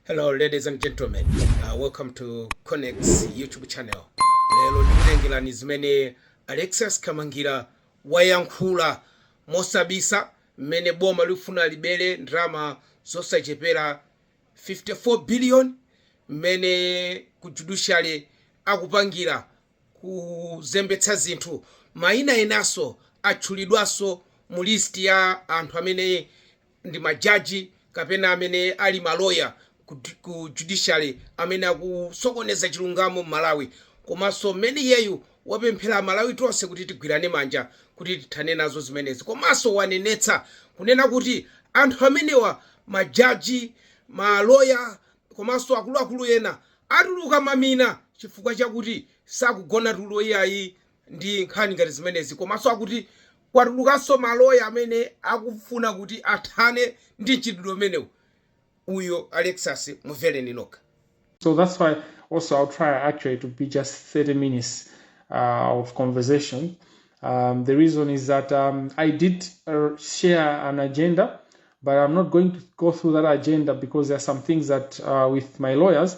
Hello, ladies and gentlemen. Uh, welcome to Connects YouTube channel. Lero ndikutengerani zimene Alexis Kamangira wayankhula mosabisa mmene boma likufuna libere ndalama zosachepera 54 billion mmene ku judiciary akupangira kuzembetsa zinthu mayina enaso atchulidwanso mu list ya anthu amene ndi majaji kapena amene ali maloya ku, ku judiciary amene akusokoneza chilungamo m'malawi komanso mmene iyeyu wapemphera amalawi tonse kuti tigwirane manja kuti tithane nazo zimenezi komanso wanenetsa kunena kuti anthu amenewa majaji maloya komanso akuluakulu ena atuluka mamina chifukwa chakuti sakugona tulo iyayi ndi nkhani ngati zimenezi komaso akuti kwatulukaso maloya amene akufuna kuti athane ndi mchitidwe umenewu uyo Alexis mumvereni nokha. So that's why also I'll try actually to be just 30 minutes uh, of conversation. Um, the reason is that um, I did uh, share an agenda, but I'm not going to go through that agenda because there are some things that uh, with my lawyers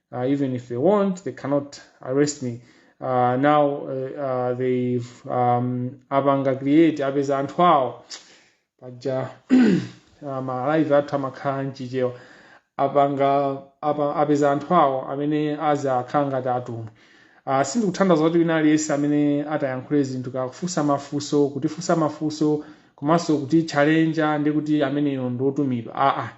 Uh, even if they want, they cannot arrest me. Uh, now uh, uh, they've um, apanga create apeza anthu awo paja uh, malive athu amakhala mchichewa apanga apa, apeza anthu awo amene azakhale ngati atumwi uh, sindikutanthauza kuti wina aliyense amene atayankhule zinthu kakufunsa mafunso kutifunsa mafunso komanso kutichalenja ndi kuti ameneyo ndi otumidwa aa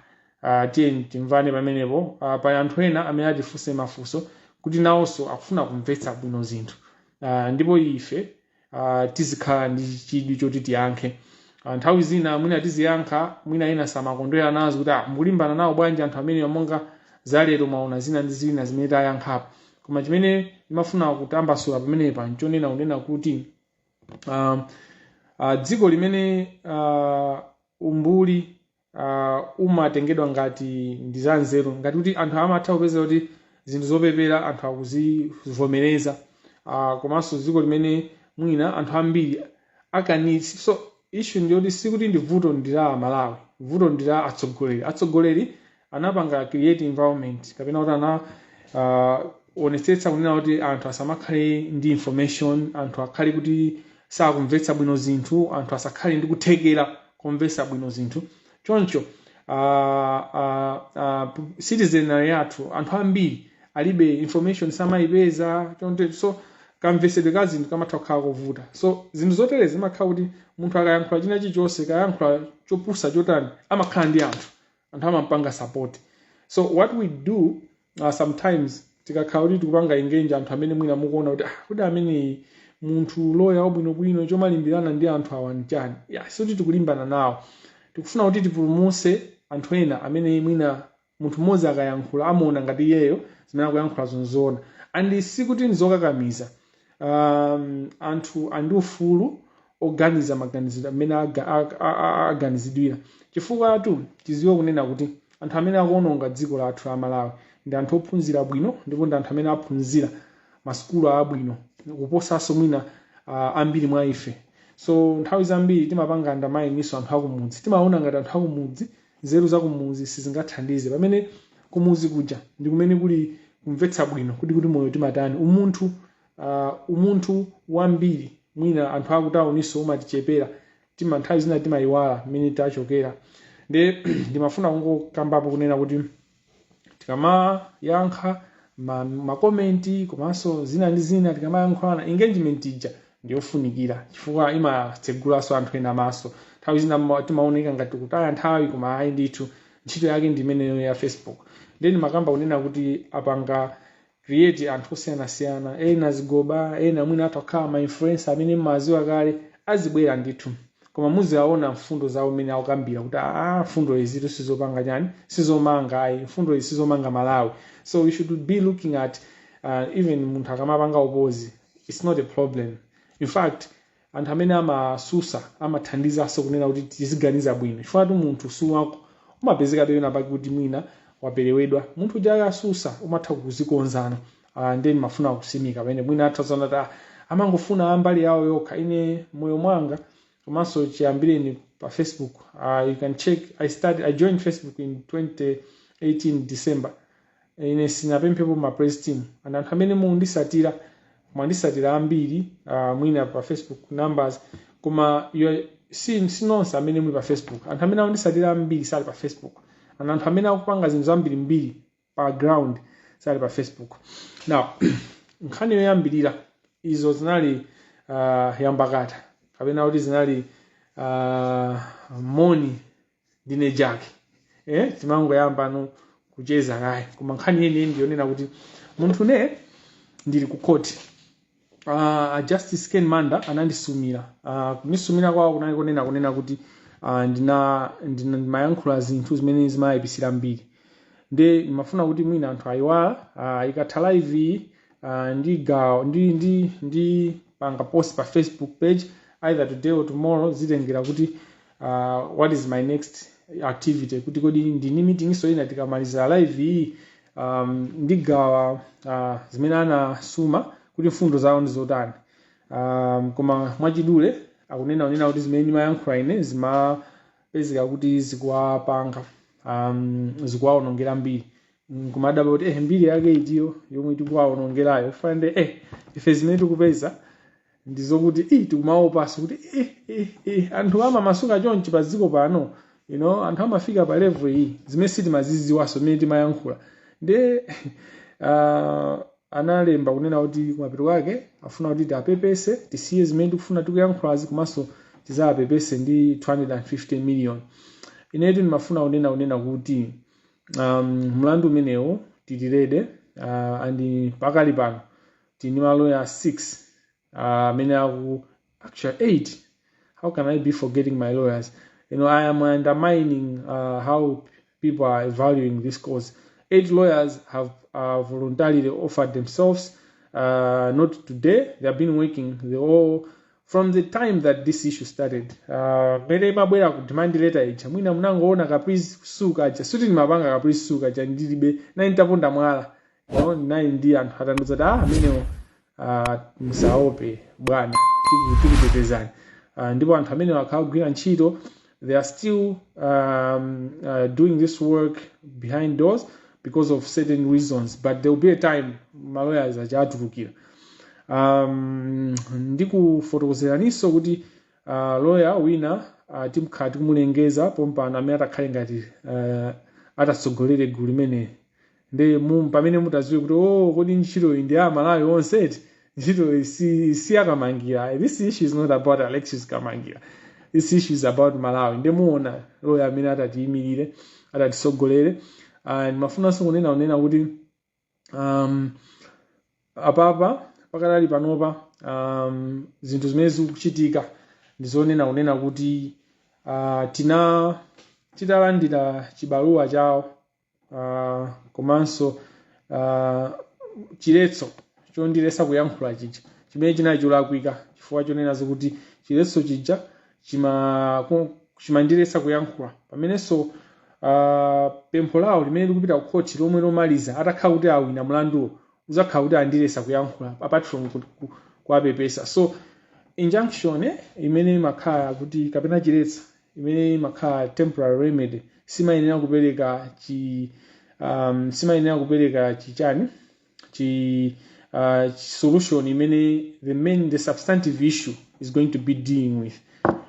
Uh, tiyeni timvane pamenepo. Uh, pali anthu ena amene atifunse mafunso kuti nawonso akufuna kumvetsa bwino zinthu uh, ndipo ife uh, tizikhala ndi chidwi choti tiyankhe uh, nthawi zina mwina tiziyankha mwina ena samakondwera nazo kuti ah, mukulimbana nawo bwanji anthu amenewa monga zalero mwaona zina ndi zina zimene tayankhapo koma chimene ndimafuna kutambasula pamenepa nchonena kunena kuti um, uh, dziko limene uh, umbuli uh, umatengedwa ngati ndi za nzeru ngati kuti anthu amatha kupeza kuti zinthu zopepera anthu akuzivomereza uh, komanso dziko limene mwina anthu ambiri akanitsi so issue ndiyoti sikuti ndi vuto ndi la amalawi vuto ndi la atsogoleri atsogoleri anapanga create environment kapena kuti ana uh, anaonetsetsa kunena kuti anthu asamakhale ndi information anthu akhale kuti sakumvetsa bwino zinthu, anthu asakhale ndi kuthekera komvetsa bwino zinthu. Choncho uh, uh, uh, citizenry yathu anthu ambiri alibe information samayipeza choncho so kamvetsedwe ka zinthu kamatha kukhala kovuta so zinthu zotere zimakhala kuti munthu akayankhula china chilichonse kaya ayankhula chopusa chotani amakhala ndi anthu anthu amampanga support so what we do Uh, sometimes tikakhala kuti tikupanga engage anthu amene mwina mukuona kuti ah, kodi ameneyu munthu loya wabwinobwino chomalimbirana ndi anthu awa nchani yeah, sikuti tikulimbana nawo tikufuna kuti tipulumutse anthu ena amene mwina munthu mmodzi akayankhula amaona ngati iyeyo zimene akuyankhula nzoona and sikuti ndizokakamiza um, anthu ali ndi ufulu oganiza maganizidwe amene aga- a- a- a- aganizidwira chifukwatu tidziwe kunena kuti anthu amene akuononga dziko lathu la malawi ndi anthu ophunzira bwino ndipo ndi anthu amene aphunzira masukulu abwino kuposanso mwina ah, ambiri mwa ife so nthawi zambiri timapanga undermine-nso anthu akumudzi timaona ngati anthu akumudzi nzeru zakumudzi sizingathandize pamene kumudzi kuja ndi kumene kuli kumvetsa bwino kuti kuti moyo timatani umunthu uh, umunthu wambiri mwina anthu akutawuninso umatichepera tima nthawi zina timayiwala mmene tachokera nde ndimafuna kungokambapo kunena kuti tikamayankha ma- makomenti komanso zina ndi zina tikamayankhulana engagement ija ndiyofunikira chifukwa imatsegulanso anthu ena maso nthawi zina ma- timaoneka ngati kutaya nthawi koma ayi ndithu ntchito yake ndi imeneyo ya facebook nde ndimakamba kunena kuti apanga create anthu osiyanasiyana ena zigoba ena mwina atha kukhala ma influencer amene mmadziwa kale azibwera ndithu koma muziwaona mfundo zawo mmene akukambira kuti aa mfundo izitu sizopanga chani sizomanga ayi mfundo izi sizomanga malawi so we should be looking at uh, even munthu akamapanga oppose it's not a problem in fact Anthu amene amatsutsa amathandizanso kunena kuti tiziganiza bwino chifukwatu munthu siwatho umapezekabe pena pake kuti mwina waperewedwa munthu uja akatsutsa umatha kudzikonzano uh, nde ndimafuna kutsimikiza pamene mwina atha kuziona kuti ah, amangofuna ambali yawo yokha ine moyo mwanga komanso chiyambireni pa facebook uh, you can check i started i joined facebook in 2018 december ine sindinapemphepo ma praise team and anthu amene mukunditsatira mwanditsatira ambiri uh, mwina pa facebook numbers koma you si, si nonse amene muli pa facebook anthu amene akunditsatira ambiri sali pa facebook and anthu amene akupanga zinthu zambirimbiri pa ground sali pa facebook now nkhani yoyambirira izo zinali uh, nyambakata kapena kuti zinali uh, moni ndiye kaya eh, timangoyambano kucheza kaye koma nkhani yeniyeni ndiyonena kuti munthu ne ndili ku khoti uh, Justice Ken Manda anandisumira uh, kunisumira kwawo kunali kunena kunena kuti uh, ndina ndina- ndimayankhula zinthu zimene zimaayipisira mbiri nde ndimafuna kuti mwina anthu ayiwala uh, ikatha live iyi uh, ndi gawo ndi ndi ndi panga post pa facebook page either today or tomorrow zitengera kuti uh, what is my next activity kuti kodi ndili ni meeting-nso ina tikamaliza live iyi um, ndigawa uh, zimene anasuma kuti mfundo zawo ndi zotani um, koma mwachidule akunena unena kuti zimene ndimayankhula ine zimapezeka kuti zikuwapanga um, zikuwaonongera mbiri Mm, kumadabwa kuti eh, mbiri yake itiyo yomwe tikuwaonongerayo pamene eh, ife zimene tikupeza ndizokuti eh, tikumaopanso kuti eh, eh, eh, anthu amamasuka chonchi pa dziko pano you know, anthu amafika pa level iyi zimene sitimaziziwanso zimene timayankhula nde uh, analemba kunena kuti kumapeto kwake afuna kuti tiapepese tisiye zimene tikufuna tikuyankhulazi komanso tizaapepese ndi 250 million inetu ndimafuna kunena kunena kuti um, mlandu umenewu tili ready uh, and pakali pano tili ndi maloya 6 amene uh, actually 8 how can i be forgetting my lawyers you know i am undermining uh, how people are valuing this cause eight lawyers have uh, voluntarily offered themselves uh, not today they have been working they all from the time that this issue started mmene uh, imabwera demand letter ija mwina munangoona ka please sue kaja sikuti ndimapanga ka please sue kaja ndilibe ayi ntaponda mwala no ndinali ndi anthu atandiuza kuti ah amenewo ah, musaope bwana tiku- tikutetezani Ah, ndipo anthu amenewo akhala akugwira ntchito they are still um, uh, doing this work behind doors because of certain reasons but there will be a time maloya aja atulukira um, ndikufotokozeraninso kuti uh, loya wina uh, tikhala tikumulengeza pompano amene atakhale ngati uh, atatsogolere gulu limene nde mpamene mutaziwe kuti oh kodi ntchito iyi ndi ya Malawi onse eti ntchito iyi si ya Kamangira this issue is not about Alexis Kamangira this issue is about Malawi nde muona lawyer amene atatiyimirire atatisogolere ndimafunanso kunena kunena kuti um, apapa pakadali panopa um, zinthu zimene zikuchitika ndizonena kunena kuti uh, tina titalandira chibaluwa chawo uh, komanso uh, chiletso chondilesa kuyankhula chija chimene chinali cholakwika chifukwa chonena zokuti chiletso chija chima- ku- chimandilesa kuyankhula pamenenso uh, pempho lawo limene likupita ku khoti lomwe lomaliza atakhala kuti awina mlanduwo uzakhala kuti andilesa kuyankhula apart from ku- ku- kuwapepesa so injunction eh, imene imakhala kuti kapena chiletsa imene imakhala temporary remedy simayenera kupereka chi um, simayenera kupereka chichani chi uh, solution imene the main the substantive issue is going to be dealing with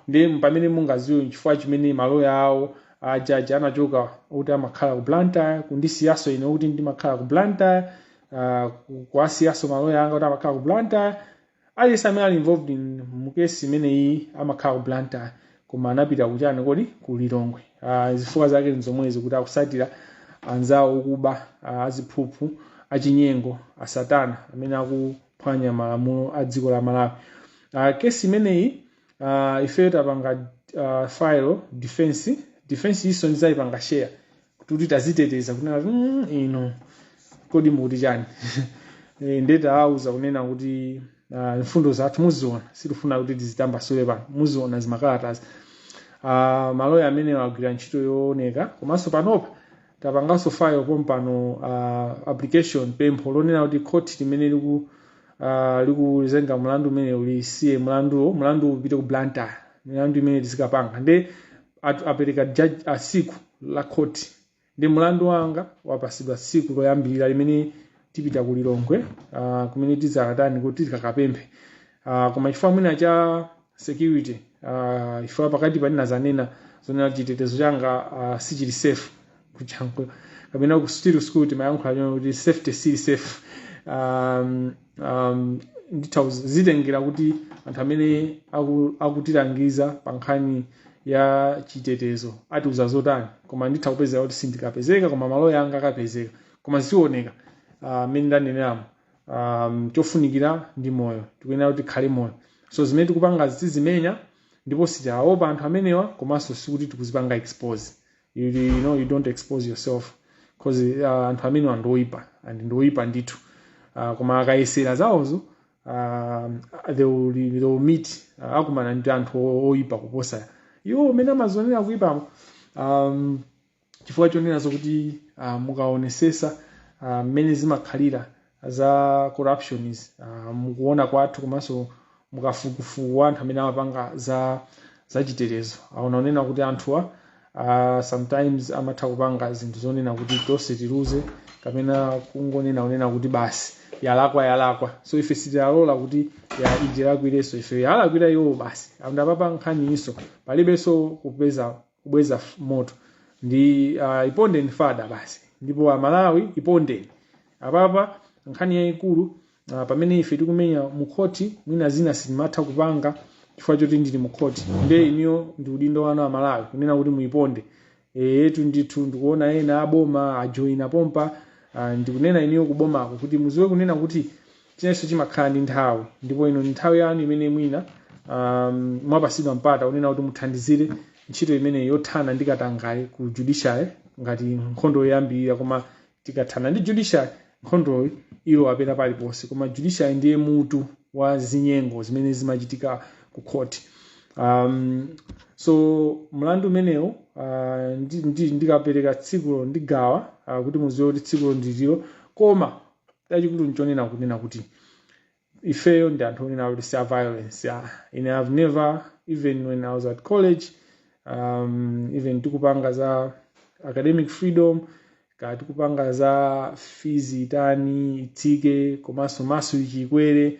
nde pamene mungaziwe chifukwa chimene maloya awo ajaji anachoka kuti amakhala ku blantyre kundisiyaso ine kuti ndimakhala ku blantyre uh, kuwasiyaso maloya anga kuti amakhala ku blantyre aliyense amene ali involved in mukesi imeneyi amakhala ku blantyre koma anapita kuchani kodi ku lilongwe uh, zifukwa zake nzomwezi kuti akusatira anzawo okuba uh, aziphuphu achinyengo asatana amene akuphwanya malamulo a dziko la malawi uh, kesi imeneyi uh, ifeyo tapanga uh, file defense defense iyo ndizayipanga share kuti taziteteza kunena kuti "Mm, inu kodi mukuti chani Eh, nde tawauza kunena kuti ah, mfundo zathu muziona sitifuna kuti tizitambasule pano muziona zimakalatazi Ah, maloya amene agwira ntchito yooneka komanso panopa tapanganso file pompano ah, application pempho lonena kuti khoti limene liku ah, likuzenga mlandu umene ulisiye mlanduwo mlandu upite ku blantyre milandu imene tizikapanga nde at, apereka judge a siku la khoti nde mlandu wanga wapasidwa siku loyambirira limene tipita ku lilongwe uh, kumene tizakatani kuti tikakapemphe uh, koma chifukwa mwina cha security uh, chifukwa pakati panene zanena zonena chitetezo changa uh, sichili safe kujankhula kapena ku still school timayankhula chona kuti safety si safe um, um, nditha kuzi- zitengera kuti anthu amene aku- akutilangiza pa nkhani ya chitetezo atiuza zotani koma nditha kupezeka kuti sindikapezeka koma maloya anga akapezeka koma zioneka mmene ndaneneramo um, chofunikira ndi moyo tikuyenera kuti tikhale moyo so zimene tikupanga tizimenya ndipo sitiwaopa anthu amenewa komanso sikuti tikuzipanga expose you, you know you don't expose yourself cause uh, anthu amenewa ndi oyipa and ndi oyipa ndithu uh, koma akayesera zawozo uh, they, will, they will meet uh, akumana ndi anthu o- oyipa kuposa iwo mmene amazionera kuyipamo um, chifukwa chonena zokuti uh, mukaonesesa uh, mmene zimakhalira za corruption izi uh, mukuona kwathu komanso mukafukufuku wa anthu amene amapanga za zachitetezo aona zonena kuti anthuwa uh, sometimes amatha kupanga zinthu zonena kuti tonse tiluze kapena kungonena onena kuti basi yalakwa yalakwa so ife sitilola kuti itilakwirenso ife yalakwira iwo basi andapapa nkhaniyi so palibenso kupeza kubweza moto ndi uh, ipondeni fada basi ndipo amalawi ipondeni apapa nkhani yayikulu uh, pamene ife tikumenya mukhoti mwina zina sindimatha kupanga chifukwa choti ndili mukhoti nde iniyo ndi udindo wanu amalawi kunena kuti muiponde eyetu ndithu ndikuona ena aboma ajoina pompa uh, ndikunena iniyo kubomako kuti muziwe kunena kuti China chilichonse chimakhala ndi nthawi, ndipo ino ndi nthawi yanu imene mwina um, mwapasidwa mpata onena kuti muthandizire ntchito imene yothana ndi katangale ku judiciary ngati nkhondo yoyambirira koma tikathana ndi judiciary nkhondoyi ilowapita paliponse koma judiciary ndiye mutu wa zinyengo zimene zimachitika ku khoti um, so mlandu umenewu uh, ndi- ndi- ndikapereka tsikulo ndigawa uh, kuti muziwe kuti tsikulo ndililo koma chachikulu nchonena kunena kuti ifeyo ndi anthu onena kuti si a violence ah. I have never even when i was at college um, even tikupanga za academic freedom kaya tikupanga za fees itani itsike komanso maso ichikwere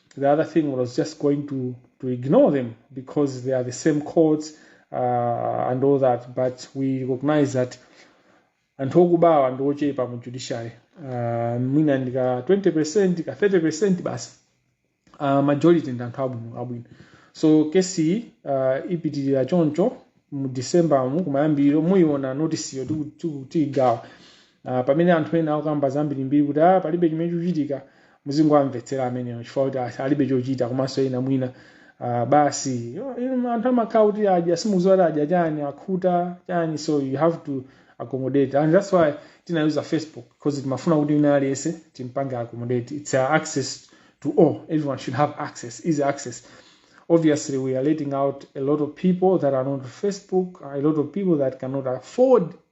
the other thing was just going to, to ignore them because they are the same courts uh, and all that. But we recognize that anthu okubawa ndi ochepa mu judiciary uh, mwina ndi ka 20 percent ka 30 percent basi uh, majority ndi anthu abwino abwino so case uh, ipitirira choncho mu december mu kumayambiriro muyiona notisiyo tiyigawa Ah, pamene anthu ena akukamba zambirimbiri kuti ah, palibe chimene chikuchitika muzingowamvetsera amenewo chifukwa kuti ah, alibe chochita komanso ena mwina ah, basi Yo, inu anthu amakhala kuti adya simukuziwa kuti adya chani akhuta chani so you have to accommodate and that's why timayuza facebook because timafuna kuti wina aliyense timpange accommodate it's uh, access to all everyone should have access easy access obviously we are leaving out a lot of people that are not on facebook a lot of people that cannot afford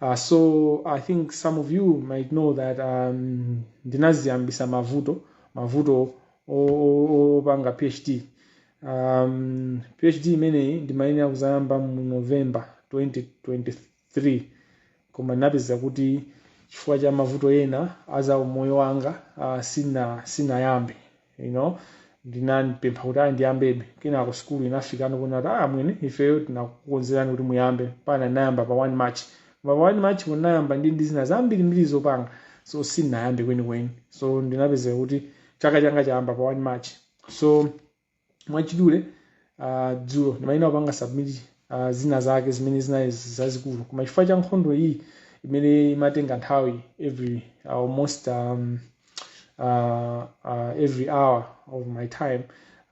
Uh, so I think some of you might know that um, ndinaziyambisa mavuto mavuto opanga PhD um, PhD imeneyi ndimayenera kuzayamba mu November 2023 koma ndinapeza kuti chifukwa cha mavuto ena aza umoyo wanga uh, sina sinayambe you know ndinapempha kuti ayi ndiyambebe kenako sikulu inafikano kuona kuti ah mwene ifeyo tinakukonzerani kuti muyambe bwenzi munayamba pa 1 march koma pa 1 march kunayamba ndi ndi zina zambiri mbiri zopanga so sinayambe kwenikweni so ndinapezeka kuti chaka changa chayamba pa 1 march so mwachidule uh, dzulo ndimayenera kupanga submit uh, zina zake zimene zinali zazikulu koma chifukwa cha nkhondo iyi imene imatenga nthawi every uh, almost um, uh, uh, every hour of my time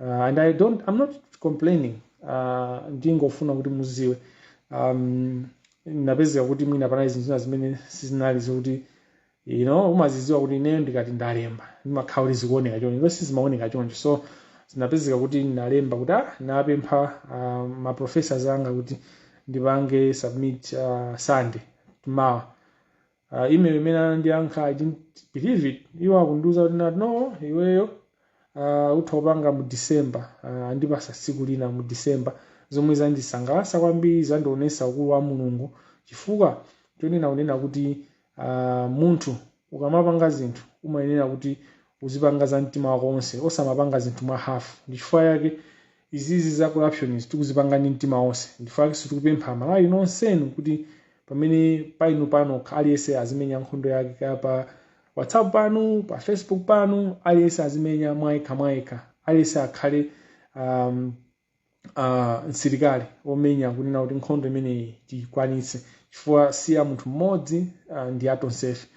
uh, and i don't i'm not complaining uh, ndingofuna kuti muziwe um, napezeka kuti mwina panali zinthu zina zimene sizinali zokuti you know umaziziwa kuti ineyo ndikati ndalemba ndimakhala kuti zikuoneka choncho ndipo sizimaoneka choncho so zinapezeka kuti ndinalemba kuti ah napempha uh, ma professors anga kuti ndipange submit uh, sunday tomorrow uh, email imene anandiyankha I didn't believe it iwo akundiuza kuti kuti no iweyo uh, utha kupanga mu december uh, andipasa tsiku lina mu december zomwe zandisangalatsa kwambiri zandionesa ukulu wa mulungu chifukwa chonena kunena kuti Ah, munthu ukamapanga zinthu umayenera kuti uzipanga za mtima wako wonse osamapanga zinthu mwa hafu ndichifukwa yake izizi za corruption izi tikuzipanga ndi mtima wonse ndichifukwa yakenso tikupempha amalawi nonsenu kuti pamene painu panokha aliyense azimenya nkhondo yake kaya pa whatsapp panu pa facebook panu aliyense azimenya mwayekha mwayekha aliyense akhale um, uh, msilikali omenya kunena kuti nkhondo imeneyi tikwanitse chifukwa si ya munthu mmodzi uh, ndi ya tonsefe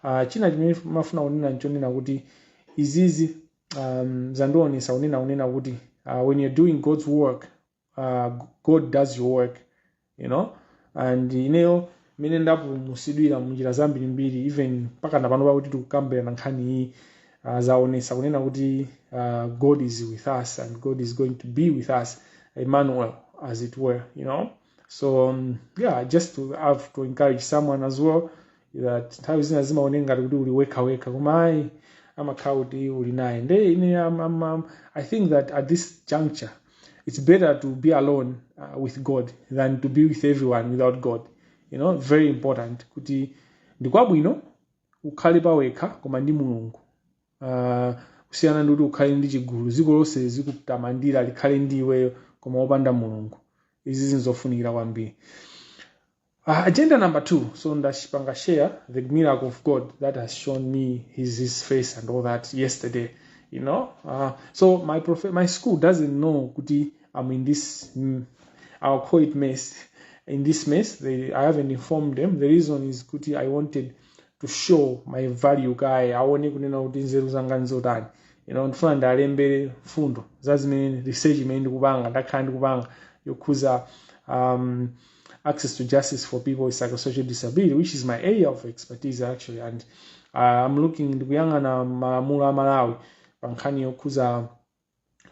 uh, china chimene ndimafuna kunena nchonena kuti izizi um, zandionesa kunena kunena kuti uh, when you're doing god's work uh, god does your work you know and ineyo mene ndapulumusidwira munjira zambirimbiri even mpaka napano pakuti tikukambirana nkhani iyi uh, zaonesa kunena kuti uh, god is with us and god is going to be with us emmanuel as it were you know so um, yeah just to have to encourage someone as well that nthawi zina zimaoneka ngati kuti uli wekha wekha koma ayi amakhala kuti uli naye nde ine I'm, I'm, I'm, i think that at this juncture it's better to be alone uh, with god than to be with everyone without god you know very important kuti ndikwabwino ukhale pawekha koma ndi mulungu uh, kusiyana ndi kuti ukhale ndi chigulu dziko lonse likutamandira likhale ndi iweyo koma wopanda mulungu izi zinzofunikira kwambiri Uh, agenda number two so ndapanga share the miracle of god that has shown me his, his face and all that yesterday you know uh, so my prof- my school doesn't know kuti i'm in this mm, i'll call it mess in this mess they, i haven't informed them the reason is kuti i wanted to show my value kaye aone kunena kuti nzeru zanga nzotani you know ndifuna ndiwalembere mfundo za zimene research imene ndikupanga ndakhala ndikupanga yokhuza um, access to justice for people with psychosocial disability which is my area of expertise actually and uh, I'm looking ndikuyang'ana malamulo a malawi pa nkhani yokhuza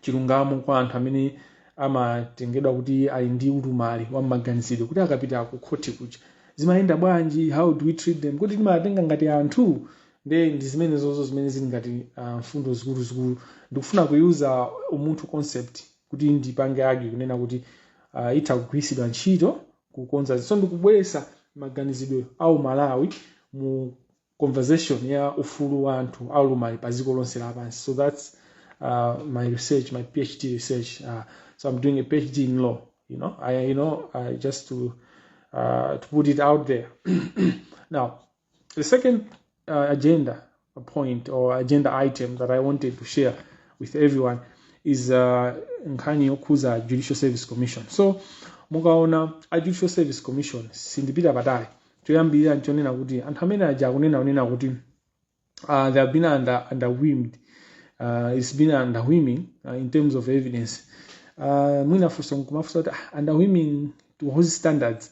chilungamo kwa anthu amene amatengedwa kuti ali ndi ulumali wa maganizidwe kuti akapita ku khoti kuja zimayenda bwanji how do we treat them kuti timatenga ngati anthu nde ndi zimene zozo zimene zili ngati uh, mfundo zikuluzikulu ndikufuna kuyuza umunthu concept kuti ndipange argue kunena kuti uh, itha kugwiritsidwa ntchito kukonza zinthu so ndikubweretsa maganizidwe a umalawi mu conversation ya ufulu wa anthu aulumali pa dziko lonse lapansi so that's uh, my research my phd research uh, so i'm doing a phd in law uh, just to uh, to put it out there now The second uh, agenda point or agenda item that I wanted to share with everyone is uh, nkhani yokhuza Judicial Service Commission. So mukaona a Judicial Service Commission sindipita patali choyambirira nchonena kuti anthu amene aja akunena kunena kuti uh, they have been under, underwhelmed uh, it's been underwhelming uh, in terms of evidence uh, mwina funso nkumafunsa kuti ah, underwhelming to whose standards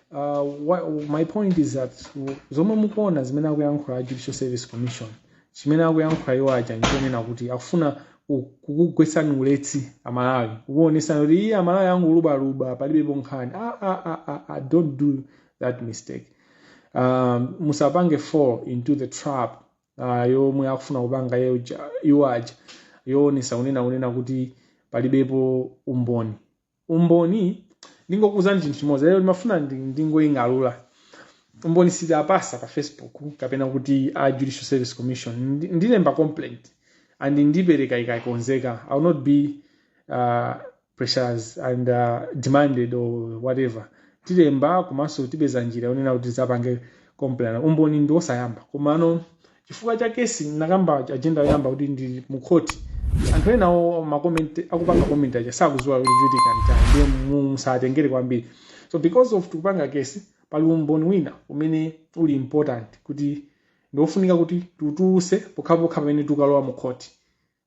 Uh, wha- my point is that w- zomwe mukuona zimene akuyankhula a judicial service commission chimene akuyankhula iwo aja ndichonena kuti akufuna ku- kukugwetsani ulesi amalawi kukuonesani kuti iye amalawi angolubwalubwa palibepo nkhani ah, ah, ah, ah, ah, don't do that mistake um, musapange fall into the trap uh, yomwe akufuna kupanga iye uja- iwo aja yoonesa kunena kunena kuti palibepo umboni umboni ndingokuuzani chinthu chimodzi lero ndimafuna ndi- ndingoying'alula umboni sitinapatse pa facebook kapena kuti a judicial service commission Ndi- ndilemba complaint and ndipereka ikakonzeka i will not be uh, pressured and uh, demanded or whatever tilemba komanso tipeza njira yonena kuti tizapange complaint umboni ndiwosayamba komano Chifukwa cha case ndinakamba agenda yoyamba kuti ndili mu court anthu ena wo akupanga comment aja sakuziwa kuti chikuchitika nchani ndiye musawatengere kwambiri so because of tikupanga case pali umboni wina umene uli important kuti ndiwofunika kuti titulutse pokhapokha pamene tukalowa mu court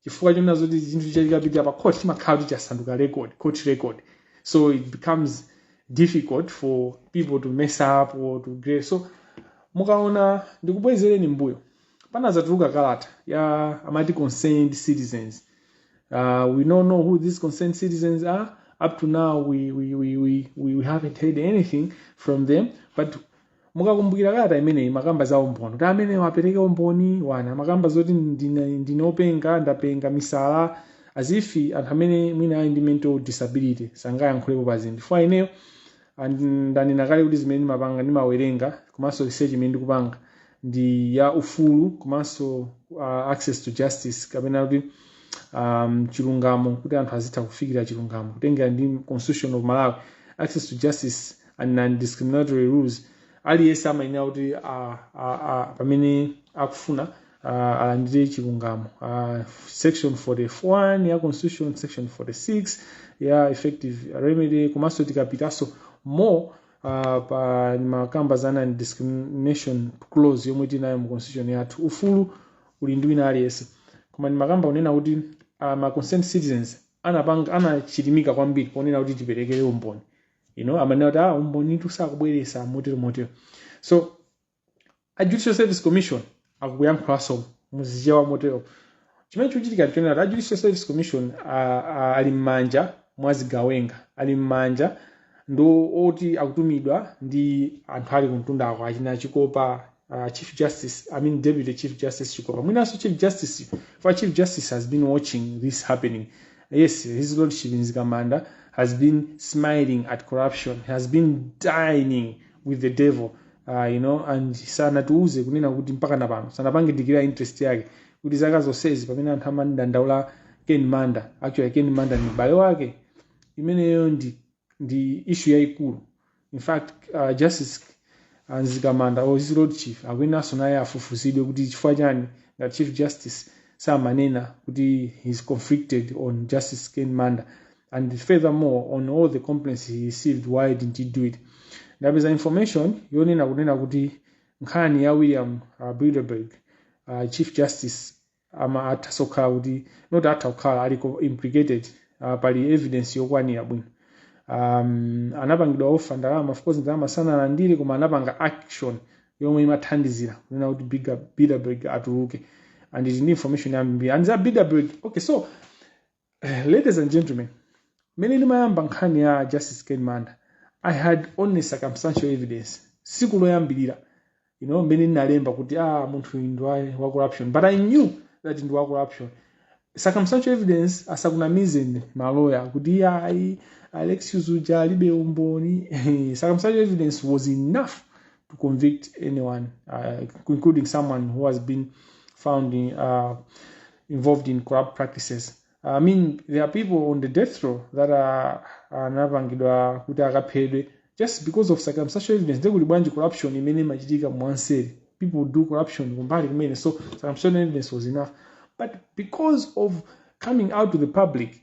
chifukwa chonena zoti chinthu chikapita pa court chimakhala kuti chasanduka record court record so it becomes difficult for people to mess up or to grade so mukaona ndikubwezereni mbuyo panazatuluka kalata ya amati concerned citizens uh, we don't know who these concerned citizens are up to now we, we, we, we, we haven't heard anything from them but mukakumbukira kalata imeneyi makamba za umboni kuti ameneyo apereke umboni ena amakamba zoti ndine openga ndapenga misala as if anthu amene mwina ali ndi mental disability sangayankhulepo pa zinthu chifukwa ineyo ndanena kale kuti zimene ndimapanga ndimawerenga komanso research imene ndikupanga ndi ya ufulu komanso uh, access to justice kapena kuti um, chilungamo kuti anthu azitha kufikira chilungamo kutengera ndi constitution of malawi access to justice and non-discriminatory rules aliyense amayenera kuti a, a, a, pamene akufuna a, alandire chilungamo a, section 41 ya constitution section 46 ya effective remedy komanso tikapitanso more uh, pamakamba za non-discrimination clause yomwe tinayo mu constitution yathu ufulu uli ndi wina aliyense koma ndimakamba kunena kuti uh, ma concerned citizens anapanga anachilimika kwambiri ponena kuti tiperekere umboni you know amanena kuti ah umbonitu sakubweretsa motero motero so a judicial service commission akuyankhulanso muchichewa motero chimene chikuchitika nchonena kuti a judicial service commission a- a- ali m'manja mwa zigawenga ali m'manja ndi oti akutumidwa ndi anthu ali kumtundako achina chikopa uh, chief justice i mean deputy chief justice chikopa mwinanso chief justice for chief justice has been watching this happening yes his lordship mzikamanda has been smiling at corruption has been dining with the devil uh, you know and sanatiuze kunena kuti mpakana pano sanapange declare interest yake kuti zaka zonsezi pamene anthu amandandaula ken manda actually ken manda ni m'bale wake imeneyo ndi issue yayikulu in fact uh, justice uh, mzikamanda or his lord chief akuyeneranso naye afufuzidwe kuti chifukwa chani ngati chief justice samanena kuti he's conflicted on justice ken manda and furthermore on all the complaints he received why didn't he do it ndapeza information yonena kunena kuti nkhani ya william uh, bilderberg uh, chief justice ama athaso kukhala kuti not atha kukhala ali co- implicated uh, pali evidence yokwanira bwino um, anapangidwa offer ndalama of course ndalama sanalandire koma anapanga action yomwe imathandizira kunena kuti Bigger- Bilderberg atuluke and tili ndi information yambiri and za Bilderberg okay so Ladies and gentlemen, mmene ndimayamba nkhani ya Justice Ken Manda, I had only circumstantial evidence. Siku loyambirira, you know, mmene ndinalemba kuti ah munthu uyu ndi wa- wa corruption, but I knew that ndi wa corruption. Circumstantial evidence asakunamizeni maloya kuti iyayi Alexius uja alibe umboni. Circumstantial evidence was enough to convict anyone, uh, including someone who has been found in, uh, involved in corrupt practices. I mean, there are people on the death row that are anapangidwa kuti akaphedwe just because of circumstantial evidence. They could bwanji corruption imene imachitika mwanseri. People do corruption kumbali kumene, so circumstantial evidence was enough. But because of coming out to the public,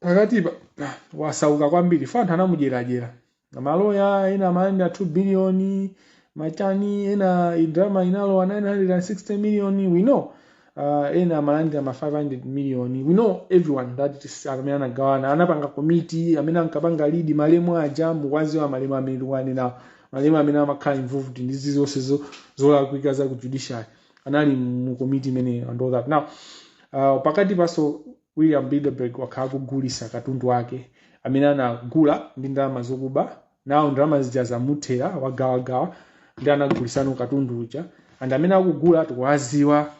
pakati pa- pa- osauka kwambiri fo anthu anamudyeradyera maloya ena amalandira 2 billion machani ena idrama inalowa 960 million you know uh, ena amalandira ma 500 million we know everyone that it is amene anagawana anapanga komiti amene ankapanga lead malemu aja mukwaziwa malemu amene tikuwanenawo malemu amene amakhala involved ndi izi zonse zo- zolakwika za ku judiciary anali mu komiti imeneyo and all that now uh, pakati paso William Bilderberg wakhala akugulisa katundu wake amene anagula ndi ndalama zokuba nawo ndalama zija zamuthera wagawagawa ndi akugulisano katundu uja and amene akugula tikuwaziwa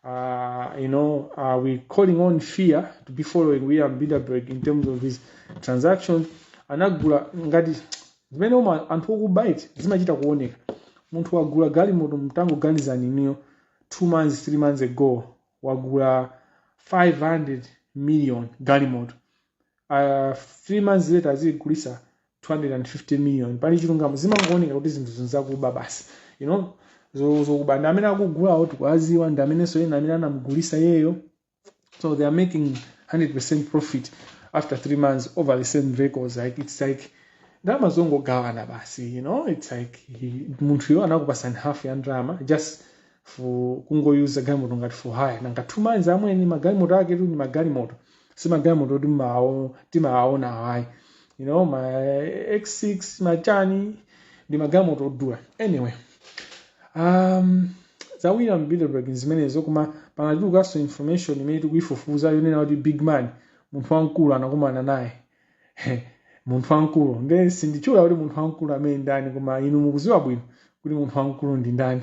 uh, you know uh, we calling on fear to be following William Bilderberg in terms of his transactions anagula ngati zimene um anthu okuba eti zimachita kuoneka munthu wagula galimoto mtangoganizani ineyo 2 months 3 months ago wagula 500 million galimoto uh, three months later azigulisa 250 million pali chilungamo zimangooneka kuti zinthu izi nzakuba basi you know zo- zokuba and amene akugulawo tikuwaziwa ndi amenenso ena amene anamugulisa iyeyo so they are making 100% profit after three months over the same vehicles like it's like ndalama zongogawana basi you know it's like he- munthuyo anakupasani half ya ndalama just fu- kungoyuza galimoto ngati for hire nanga two months amwene magalimoto aketu ndi magalimoto si magalimoto oti mmawo- timawaona awa ayi you know ma x6 machani ndi magalimoto odula anyway um, za William Bilderberg zimenezo koma panatulukanso information imene tikuyifufuza yonena kuti big man munthu wamkulu anakumana naye munthu wamkulu nde sinditchula kuti munthu wamkulu amene ndani koma inu mukuziwa bwino kuti munthu wamkulu ndi ndani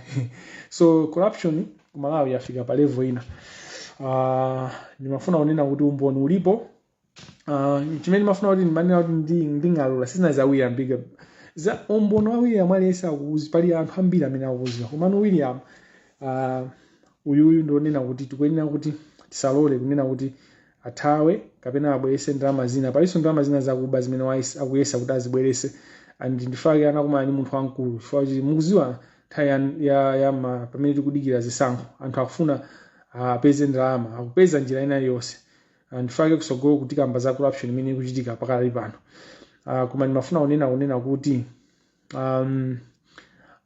so corruption ku malawi yafika pa level ina uh, ndimafuna kunena kuti umboni ulipo uh, chimene ndimafuna kuti ndimanena kuti ndi, ndingaulule si zina za William Big za umboni wa william aliyense akuuzi- pali anthu ambiri amene akuuziwa komano william uh, uyuyu ndionena kuti tikuyenera kuti tisalole kunena kuti athawe kapena abwerese ndalama zina palinso ndalama zina zakuba zimene wais- akuyesa kuti azibwerese and nchifake anakumana ndi munthu wamkulu chifukwa kuti mukuziwa nthawi ya, ya, ya ma, pamene tikudikira zisankho anthu akufuna apeze ndalama akupeza njira ina iliyonse nchifake kusogoloku tikamba za corruption imene ikuchitika pakali pano uh, koma ndimafuna kunena kunena kuti um,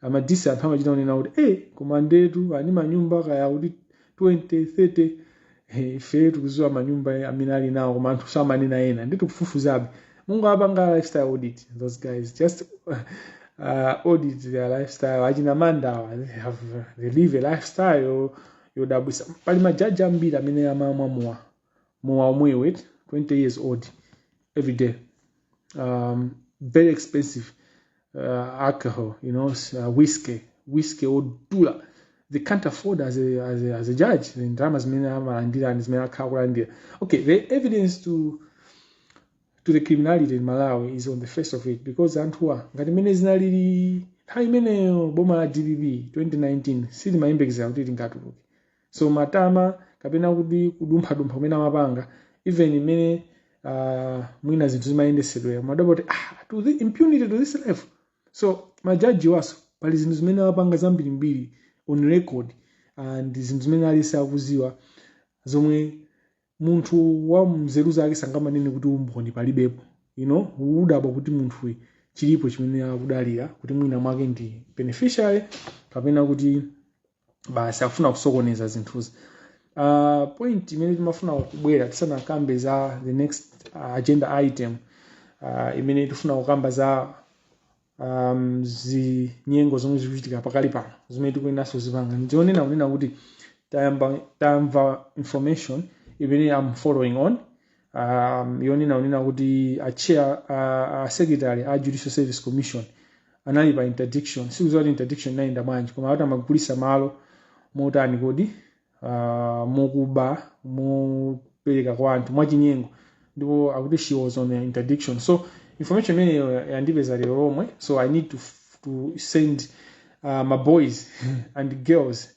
amadisi anthu amachita kunena kuti e koma ndetu ali manyumba kaya kuti 20 30 eh, ife tikuziwa manyumba eh, amene ali nawo koma anthu samanena ena ndi tikufufuzabe mungowapanga lifestyle audit those guys just uh, audit their lifestyle achina mandawa they have they live a lifestyle yodabwisa pali majaji ambiri amene amamwa mowa mowa omwewu eti 20 years old every day um, very expensive uh, alcohol you know s- uh, whiskey whiskey odula they can't afford as a, as a, as a judge ndalama zimene amalandira ndi zimene akhala akulandira okay the evidence to to the criminality in malawi is on the face of it because anthuwa ngati mmene zinalili nthawi imeneyo boma la dpp 2019 silimayembekezera kuti lingatuluke so matama kapena kuti kudumphadumpha kumene amapanga even mmene uh, mwina zinthu zimayendesedwera mumadabwa kuti ah, to the impunity to this level so majaji awanso pali zinthu zimene amapanga zambirimbiri on record and zinthu zimene aliyense akuziwa zomwe munthu wa nzeru zake sangamanene kuti umboni palibepo you know umadabwa kuti munthuyu chilipo chimene akudalira kuti mwina mwake ndi beneficiary kapena kuti basi akufuna kusokoneza zinthuzi uh, point imene timafuna kubwera tisanakambe za the next uh, agenda item uh, imene tifuna kukamba za um, zinyengo zomwe zikuchitika pakali pano zimene tikuyeneranso kuzipanga ndi yonena kunena kuti tayamba tamva information imene I'm following on um, yonena kunena kuti a chair a, a secretary a judicial service commission anali pa interdiction sikuziwa kuti interdiction inayenda bwanji koma akuti amagulisa malo motani kodi uh, mokuba mopereka kwa anthu mwachinyengo ndipo akuti she was on interdiction so information imeneyo yandipeza lero lomwe so i need to, to send uh, my boys and girls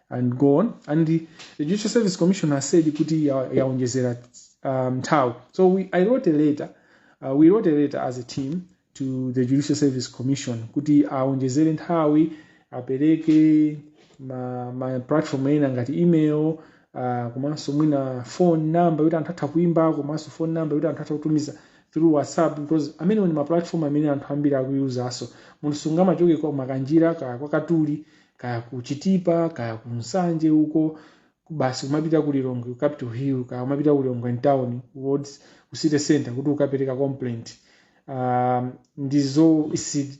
and go on and the, the judicial service commission has said kuti ya- yaonjezera um, nthawi so we, i wrote a letter uh, we wrote a letter as a team to the judicial service commission kuti aonjezere nthawi apereke ma, ma platform ena ngati email uh, komanso mwina phone number yoti anthu atha kuimba komanso phone number yoti anthu atha kutumiza through whatsapp because amenewa ndi ma platform amene anthu ambiri akuyuzanso munthu sungamachoke kwa makanjira kaya kwa katuli kaya ku chitipa kaya ku nsanje uko basi kumapita ku lilongwe ku capital hill kaya kumapita ku lilongwe town wards ku city center kuti ukapereke complaint um, ndizo isi-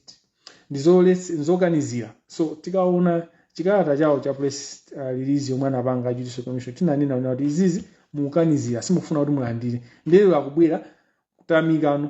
ndizolesi- ndizokanizira so titaona chikalata chawo cha press uh, release yomwe anapanga a judicial commission tinanena kunena kuti izizi mukukanizira simukufuna kuti mulandire nde lero akubwera kutamikano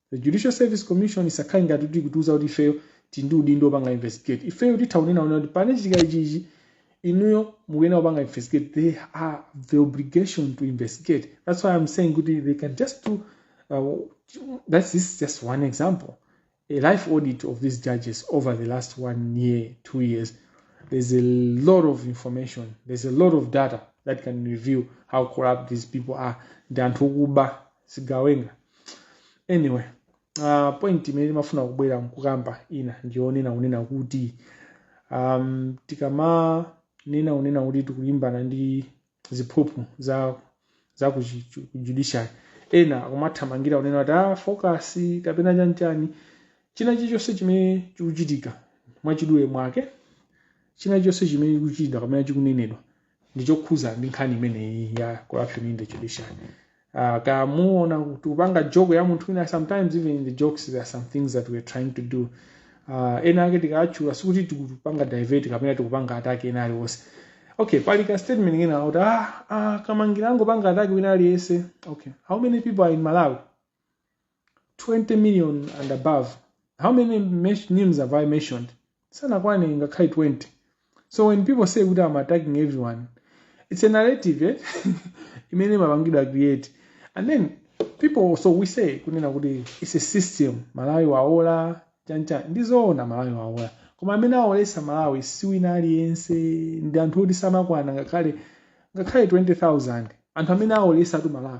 the judicial service commission isakhale ngati kuti ikutiuza kuti ifeyo tili ndi udindo opanga investigate ifeyo titha kunena kuti pamene pachitika ichichi inuyo mukuyenera kupanga investigate they have the obligation to investigate that's why i'm saying kuti they can just do uh, that's this is just one example a life audit of these judges over the last one year two years there's a lot of information there's a lot of data that can reveal how corrupt these people are ndi anthu okuba zigawenga anyway uh, point imene timafuna kubwera nkukamba ina ndiyonena kunena kuti um, tikamanena kunena kuti tikulimbana ndi ziphuphu za za ku chi- chu- ku judiciary ena akumathamangira kunena kuti ah, focus kapena chanchani china chilichonse chimene chikuchitika mwachidule mwake china chilichonse chimene chikuchitika kapena chikunenedwa ndi chokhuza ndi nkhani imeneyi ya corruption in the judiciary uh, mukamaona kuti kupanga joke ya munthu wina sometimes even in the jokes there are some things that we are trying to do uh, ena ake tikatchula sikuti tikupanga divert kapena tikupanga attack ena aliwonse okay pali ka statement ina kuti ah, ah, kamangira angopanga attack wina aliyense okay how many people are in malawi 20 million and above how many mes- names have i mentioned sanakwane ngakhale 20 so when people say kuti i'm attacking everyone it's a narrative eh? imene imapangidwa create and then people so we say kunena kuti it's a system malawi waola chanchani ndizoona malawi waola koma amene aolesa malawi si wina aliyense ndi anthu oti samakwana ngakhale ngakhale 20000 anthu amene aolesatu malawi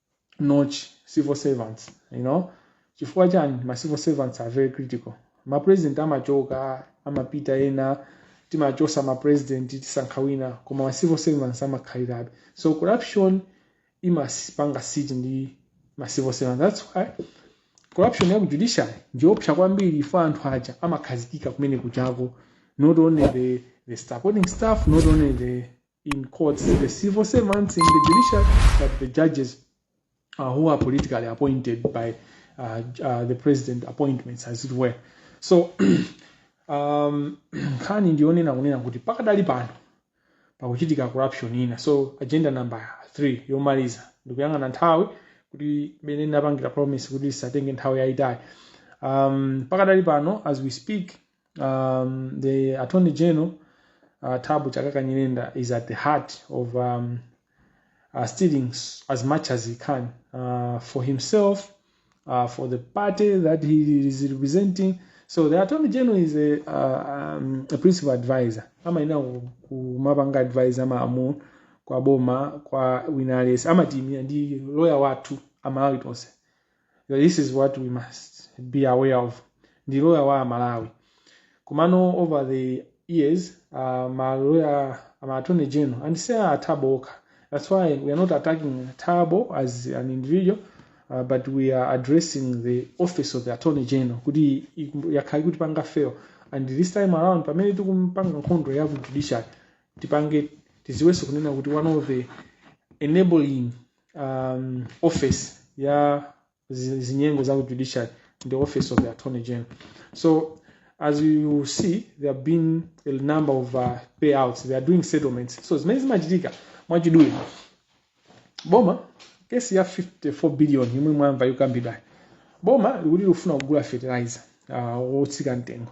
notch civil servants you know chifukwa chani ma civil servants are very critical ma president amachoka amapita ena timachosa ma president tisankha wina koma ma civil servants amakhalirabe so corruption imazipanga siege ndi ma civil servants that's why corruption ya ku judiciary ndiopsa kwambiri chifukwa anthu aja amakhazikika kumene kuchako not only the, the supporting staff not only the in courts, the civil servants in the judiciary, but the judges uh, who are politically appointed by uh, uh, the president appointments, as it were. So, um, nkhani ndiyonena kunena kuti pakadali pano pakuchitika corruption ina so agenda number 3 yomaliza ndikuyang'ana nthawi kuti mmene ndinapangira promise kuti isatenge nthawi yayitali um, pakadali pano as we speak um, the attorney general uh, Tabu Chakaka Nyirenda is at the heart of um, uh, stealing s- as much as he can uh, for himself, uh, for the party that he is representing. So the attorney general is a, uh, um, a principal advisor. Amaina kumapanga advisor maamu kwa boma kwa wina aliyense amatimira ndi lawyer wathu amalawi tonse this is what we must be aware of ndi loya wa amalawi komano over the years uh, maloya ma attorney general and si a thabo okha that's why we are not attacking thabo as an individual uh, but we are addressing the office of the attorney general kuti iku- yakhala ikutipanga fail and this time around pamene tikupanga nkhondo ya ku judiciary tipange tiziwenso kunena kuti one of the enabling um, office ya zi- zinyengo za ku judiciary ndi office of the attorney general so as you see there have been a number of uh, payouts they are doing settlements so zimene zimachitika mwachidule boma kesi ya 54 billion yomwe mwayimva ikukambidwayo boma likuti likufuna kugula fertilizer uh, wotsika mtengo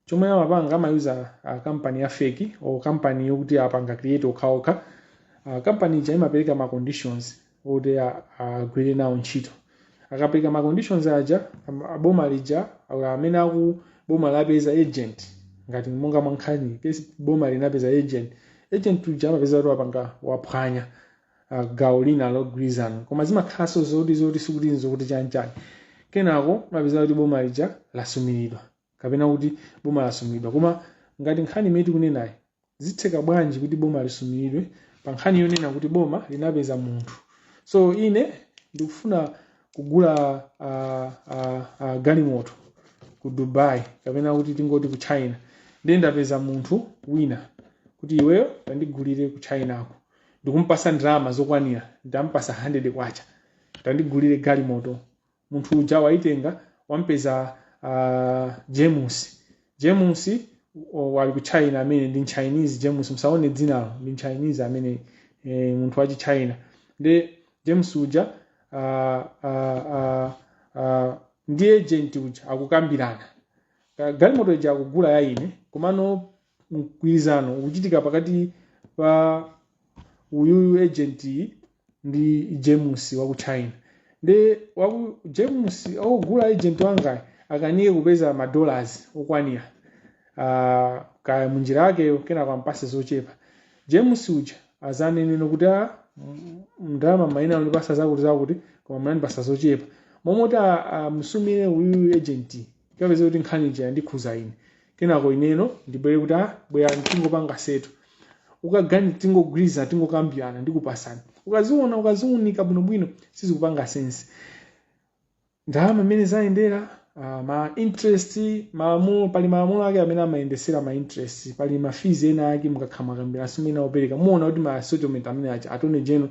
chomwe amapanga amayuza uh, kampani ya feki or kampani yokuti apanga create okhaokha uh, kampani ija imapereka ma conditions oti a- agwire nawo ntchito akapereka ma conditions aja am- a boma lija or amene aku boma lapeza agent ngati monga mwa nkhani case iyi boma linapeza agent agent uja amapeza kuti wapanga waphwanya uh, gawo lina la mgwirizano koma zimakhalanso zoti zoti sikuti nzokuti chanchani kenako mapeza kuti boma lija lasumiridwa kapena kuti boma lasumiridwa koma ngati nkhani imene tikunenayi zitheka bwanji kuti boma lisumiridwe pa nkhani yonena kuti boma linapeza munthu so ine ndikufuna kugula uh, uh, uh, galimoto ku dubai kapena kuti tingoti ku china ndiye ndapeza munthu wina kuti iweyo tandigulire ku chinako ndikumpasa ndalama zokwanira ndampasa 100 kwacha tandigulire galimoto munthu uja waitenga wampeza a james james o- wali ku china amene ndi m'chinese james musaone dzinalo ndi m'chinese amene e, munthu wa chichina ndi james uja a, a, a, a, ndi agent uja akukambirana Ka- galimoto ija akugula ya ine komano mgwirizano ukuchitika pakati pa uyuyu agent ndi james wa ku china ndiye kwa james akugula agent wangayo akanike kupeza ma dollars okwanira uh, kaya munjira yake kenako ampase zochepa james uja azanene kuti a ndalama mumayenera kundipatsa zakuti zakuti koma munandipatsa zochepa m'malo moti amusumire uyu agent ukapeza kuti nkhani ija ikukhudza ine kenako ineno ndibwere kuti ah bwerani tingopanga settle kapena tingogwirizana tingokambirana ndikupatsani ukaziona ukaziunika bwinobwino sizikupanga sense ndalama mmene zayendera ah, ma interest malamulo pali malamulo ake amene amayendetsera ma interest pali ma fees ena ake mukamakambirana amene amaperekedwa muwona kuti ma settlement amene a attorney general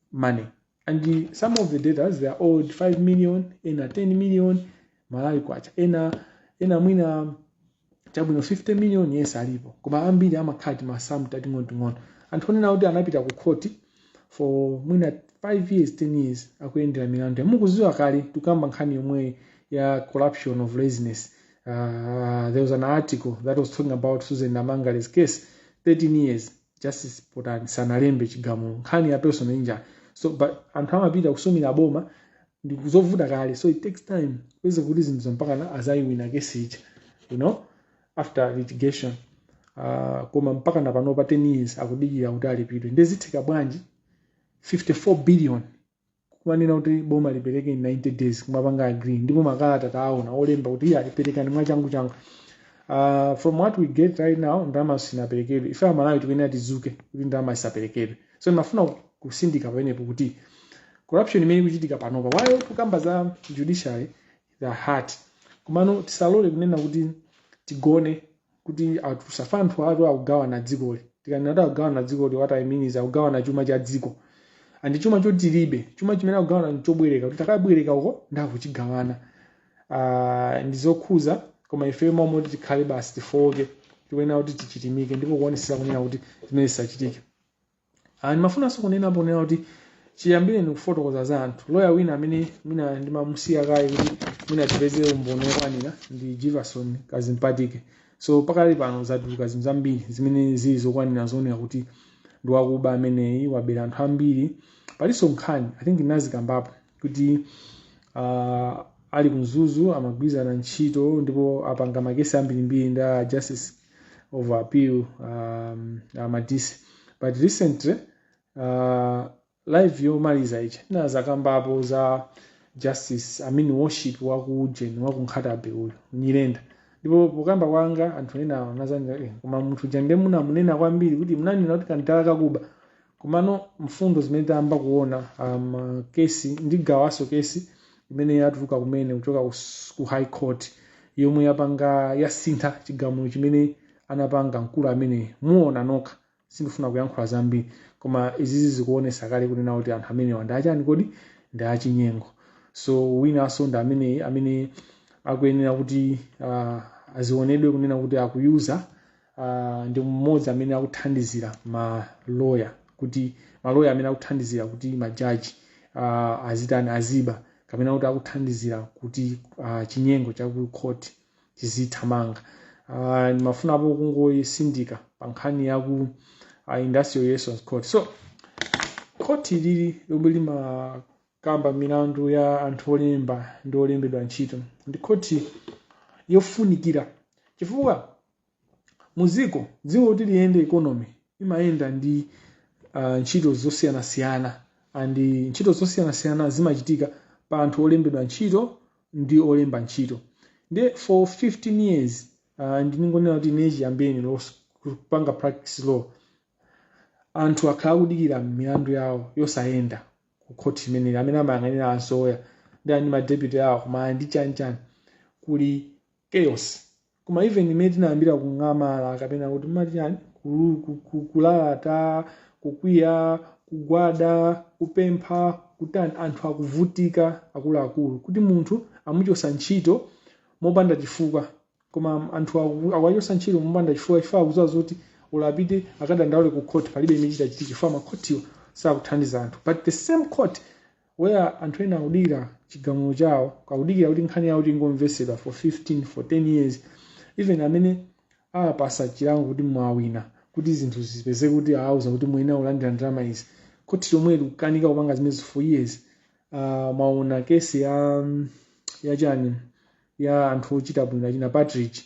money and the, some of the debtors they are owed 5 million ena 10 million malawi kwacha ena mwina chabwino 50 million yes alipo koma ambiri amakhala timasamu tating'onoting'ono anthu onena kuti anapita ku khoti for mwina 5 years 10 years akuyendera milandu mukuziwa kale tikamba nkhani yomwe ya corruption of laziness uh, there was an article that was talking about susan namangale's case 13 years justice potani sanalembe chigamulo nkhani ya personal injury so but anthu amapita kusumira boma ndi kuzovuta kale so it takes time kweze kuti zinthu mpakana azayiwina kesi ija you know after litigation uh, koma mpaka na pano pa 10 years akudikira kuti alipidwe ndezitheka bwanji 54 billion kumanena kuti boma lipereke in 90 days kumapanga agree ndipo makalata taona olemba kuti iye aliperekani mwachangu changu uh, from what we get right now ndalama sinaperekedwe ife amalawi tikuyenera tizuke kuti ndalama isaperekedwe so ndimafuna kusindika pamenepo kuti corruption imene ikuchitika panopa while tikukamba za judiciary the heart komano tisalole kunena kuti tigone kuti asa fana anthu atu akugawana dzikoli tikanena kuti akugawana dzikoli what i mean is akugawana chuma cha dziko and chuma choti tilibe chuma chimene akugawana nchobwereka kuti takabwereka uko ndikuchigawana uh, ndi zokhuza koma ifeyo mawu moti tikhale basi tifooke tikuyenera kuti tichilimike ndipo kuonesera kunena kuti zimene zisachitike Ah, ndimafunanso kunenapo kunena kuti chiyambire ndikufotokoza za anthu loya wina amene mwina ndimamusiya kaye kuti mwina tipeze umboni wokwanira ndi jivason kazipatike so pakali pano zatuluka zinthu zambiri zimene zili zokwanira zoonera kuti ndi wakuba ameneyi wabera anthu ambiri palinso nkhani i think ndinazikambapo kuti uh, ali ku mzuzu amagwirizana ntchito ndipo apanga makesi ambirimbiri ndi a justice of appeal um, a madise but recently uh, live yomaliza ija ndinazakambapo za justice i mean worship wa ku ujeni wa ku nkhatabe uyu nyirenda ndipo pokamba kwanga anthu ena anazandiuza "Eh, koma munthu uja ndiye munamunena kwambiri kuti munanena kuti kandala kakuba Komano mfundo zimene tayamba kuona um, kesi ndigawanso kesi imene yatuluka kumene kuchoka ku, s- ku high court yomwe yapanga yasintha chigamulo chimene anapanga mkulu ameneyo muona nokha sindifuna kuyankhula zambiri koma izizi zikuonesa kale kunena kuti anthu amenewa ndi otani kodi ndi achinyengo so winanso ndi ameneyi amene akuyenera kuti uh, azionedwe kunena kuti akuyuza uh, ndi mmodzi amene akuthandizira maloya kuti maloya amene akuthandizira kuti majaji uh, azitani aziba kapena kuti akuthandizira kuti uh, chinyengo chakukhoti chizithamanga uh, ndimafunapo kungotsindika pa nkhani ya ku uh, industrial relations court so khoti ili lomwe limakamba milandu ya anthu olemba ndi olembedwa ntchito ndi khoti yofunikira chifukwa Mudziko dziko kuti liyende economy imayenda ndi uh, ntchito zosiyanasiyana and ntchito zosiyanasiyana zimachitika pa anthu olembedwa ntchito ndi olemba ntchito ndi for 15 years uh, ndingonena kuti ine chiyambireni los- kupanga practice law anthu akhala akudikira milandu yawo yosayenda ku khoti imeneyi amene amayang'anira azoya ndi ani madeputy awo kaya ndi chani chani kuli chaos koma even mmene tinayambira kung'amala kapena kuti mmati chani kulu- ku- ku- kulalata kukwiya kugwada kupempha kutani anthu akuvutika akuluakulu kuti munthu amuchosa ntchito mopanda chifukwa koma anthu aku- akuwachosa ntchito mopanda chifukwa chifukwa akuziwa zoti ola apite akadandaule ku court palibe chimene chitachitike chifukwa makhotiwo sakuthandiza anthu but the same court Where anthu ena akudikira chigamulo chawo, akudikira kuti nkhani yawo kuti ingomvesedwa for 15, for 10 years, even amene awapasa chilango kuti mwawina, kuti zinthu zipezeke kuti awauza kuti muyenera kulandira ndalama izi, khoti lomweli likukanika kupanga zimenezi for years. Uh, mwaona kesi ya ya chani ya anthu ochita bwino achina Partridge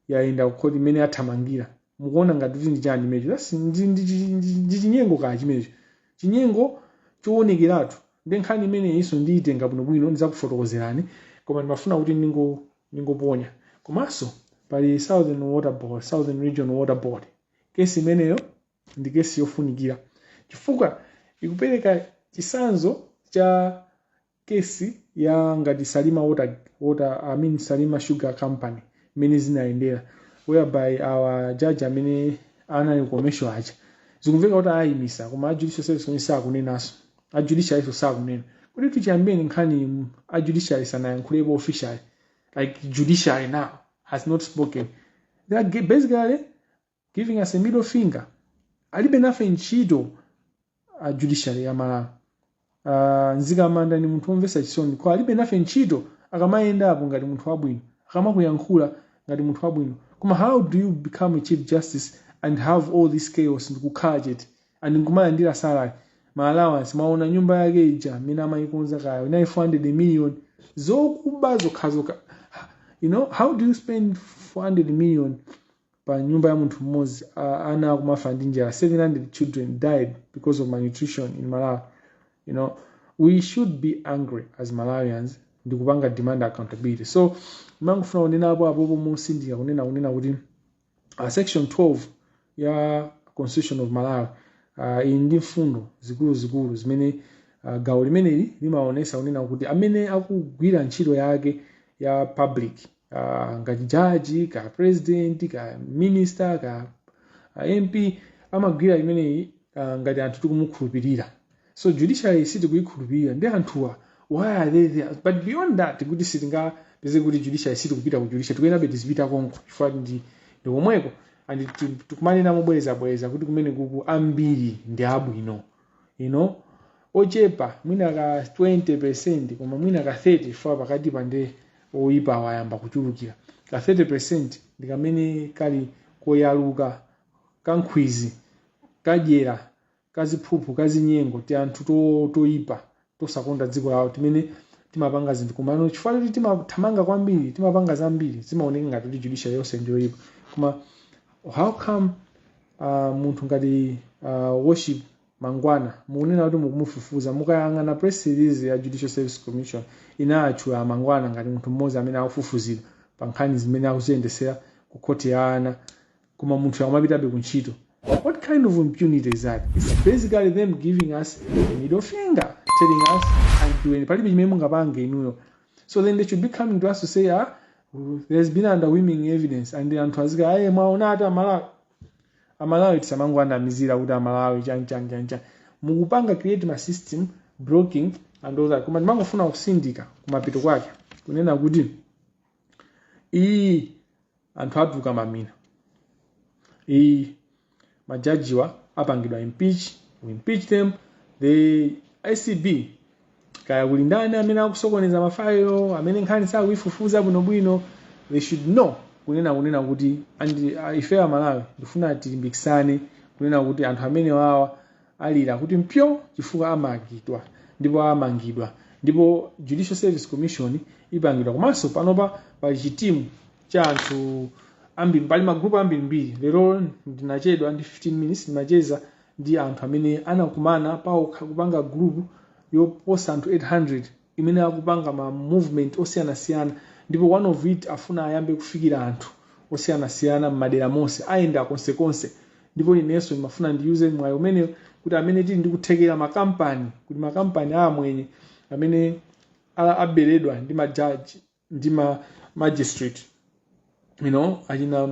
yayenda kukhoti mmene yathamangira mukuona ngati kuti ndi chani chimenecho That's- ndi- ndi chi- ndi- ndi chinyengo kaya chimenecho chinyengo choonekeratu nde nkhani imeneyinso ndiyitenga bwinobwino ndidzakufotokozerani koma ndimafuna kuti ndingo- ndingoponya komanso pali southern water board southern region water board kesi imeneyo ndi kesi yofunikira chifukwa ikupereka chisanzo cha kesi ya ngati salima water, water i mean salima sugar company mmene zinayendera whereby a judge amene anali ku commercial aja zikumveka kuti ayimisa koma ajudicial service kwenye sakunenanso ajudicial nso sakunena kuti chiyambireni nkhani ajudicial sanayankhulepo officially like judiciary now has not spoken they are ge- basically giving us a middle finger alibe nafe ntchito a judiciary ya malawi uh, nzikamanda ndi munthu womvetsa chisoni kwa alibe nafe ntchito akamayendapo ngati munthu wabwino akamakuyankhula ngati munthu wabwino koma how do you become a chief justice and have all this chaos ndikukhala chete and nkumalandira salary ma allowance mwaona nyumba yake ija amene amayikonza kaya inali 400 million zokuba zokhazoka you know how do you spend 400 million pa nyumba ya munthu mmodzi uh, ana akumafa ndi njala 700 children died because of malnutrition in malawi you know we should be angry as malawians ndi kupanga demand accountability so ndimangofuna kunena apo apopo motsindika kunena kunena kuti uh, section 12 ya constitution of malawi uh, iyi ndi mfundo zikuluzikulu zimene uh, gawo limeneli limaonetsa kunena kuti amene akugwira ntchito yake ya public uh, ngati jaji ka president ka minister ka uh, mp amagwira imeneyi uh, ngati anthu tikumukhulupirira so judiciary sitikuyikhulupirira ndi anthuwa why are they there but beyond that kuti sitingapeze kuti judiciary sitikupita ku judiciary tikuyenabe tizipita komko chifukwa ndi ndi komweko and tikumanena mobwerezabwereza kuti kumene kuku ambiri ndi abwino you know ochepa mwina ka 20 percent koma mwina ka 30 chifukwa pakati apa nde oyipa wayamba kuchulukira ka 30 percent ndi kamene kali koyaluka kankhwizi kadyera kaziphuphu kazinyengo ti anthu to- toyipa tosakonda dziko lawo timene timapanga zinthu komano chifukwa choti timathamanga kwambiri timapanga zambiri zimaoneka ngati kuti judiciary yonse ndiyoyipa koma how come uh, munthu ngati uh, worship mangwana mukunena kuti mukumufufuza mukayang'ana press release ya judicial service commission inatchula mangwana ngati munthu mmodzi amene akufufuzidwa pa nkhani zimene akuziyendetsera ku khoti ya ana koma munthuyo akumapitabe ku ntchito what kind of impunity is that its basically them giving us a middle finger telling us anthuweni palibe chimene mungapange inuyo so then they shouldn't be coming to us to say ah there's been underwhelming evidence and anthu azika aye mwaona ati amalawi amalawi tisamangowanamizira kuti amalawi chanchanchanchan mukupanga create ma system blocking and all that koma ndimangofuna kutsindika kumapeto kwake kunena kuti iyi anthu adzuka mamina iyi majajiwa apangidwa impeach we impeach them the acb kaya kuli ndani amene akusokoneza mafailo amene nkhani sakuifufuza bwinobwino they should know kunena kunena kuti and uh, ife amalawi ndifuna tilimbikisane kunena kuti anthu amene wawa alira kuti phyo chifukwa amangidwa ndipo amangidwa ndipo judicial service commission ipangidwa komanso panopa pali chitimu cha anthu ambiri pali magrupu ambirimbiri lero ndinachedwa ndi 15 minutes ndimacheza ndi anthu amene anakumana paokha kupanga grupu yoposa anthu 800 imene akupanga ma movement osiyanasiyana ndipo one of it afuna ayambe kufikira anthu osiyanasiyana m'madera monse ayenda konsekonse ndipo inenso ndimafuna ndiyuze mwayi umene kuti amene tili ndi kuthekera makampani kuti makampani a amwenye amene a- aberedwa ndi majaji ndi ma magistrate you know achina